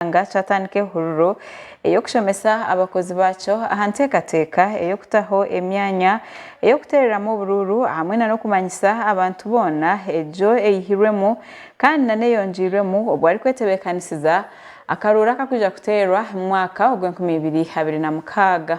ky'eihanga kyatandika ehururu ey'okushomesa abakozi baakyo aha nteekateeka ey'okutaho emyanya ey'okuteereramu oburuuru hamwe na n'okumanyisa abantu boona egyo eihirwemu kandi na n'eyongiirwemu obu arikwetebeekanisiza akaruuru akakwija kuteerwa mu mwaka ogw'enkumi ibiri abiri na mukaaga.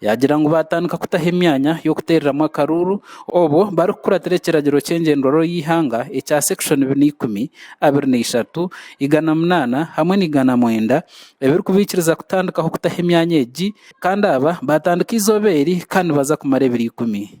Yaagira ngu baatandika kutaho emyanya y'okuteereramu akaruuru obwo barikukuratira ekiragiro ky'engyendwarooro y'eihanga ekya Section bina ikumi, abiri na ishatu, igana munaana hamwe na igana mwenda ebirikubaikiriza kutandikaho kutaho emyanya egi kandi aba baatandika eizooba eri kandi nibaza kumara ebiro ikumi.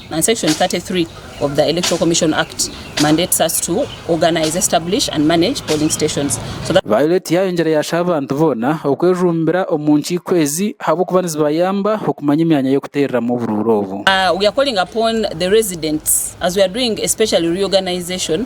and section 33 of the Electoral Commission Act mandates us to organise, establish and manage polling stations so that. Violet yaayongyera yaasha abantu boona okwejumbira omu nkiiko ezi ahabw'okuba nizibayamba okumanya emyanya y'okuteereramu oburuuru obu. We are calling upon the residents as we are doing especially reorganisation.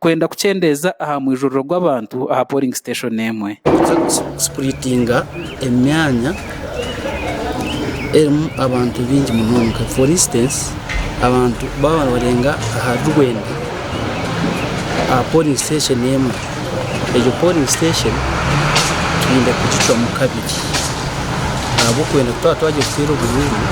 Kwenda kukyendeeza aha mwijuriro gw'abantu aha polling station emwe. Sipuritinga emyanya erimu abantu baingi munonga for instance abantu baaba nibarenga ahari rwenda aha polling station emwe egyo polling station twine kugicwamu kabiri ahabw'okwenda twaba twagira kuteera obunyumu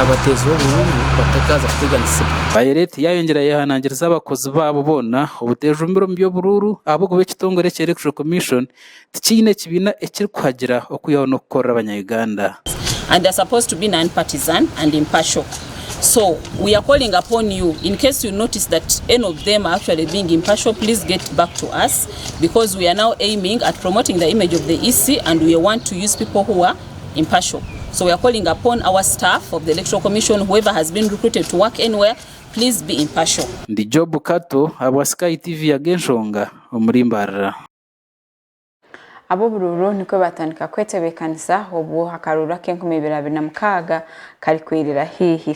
abateezi b'obunyumu batakaaza kuteganisibwa. Bayereti yayongyera yehanangiriza abakozi. babaguzi baabo boona obuteejumbire omu by'oburuuru ahabw'okuba ekitongore ekya Electoral Commission tikiine kibiina ekirikuhagira okwihaho n'okukorera abanya-Uganda. Please be impartial. Ndi Job Kato ahabwa Sky TV yaga enshonga omuri mbarira. Ab'oburuuru nikwo baatandika kwetebeekanisa obwo akaruuru ak'enkumi ibiri abiri na mukaaga karikwirira haihi.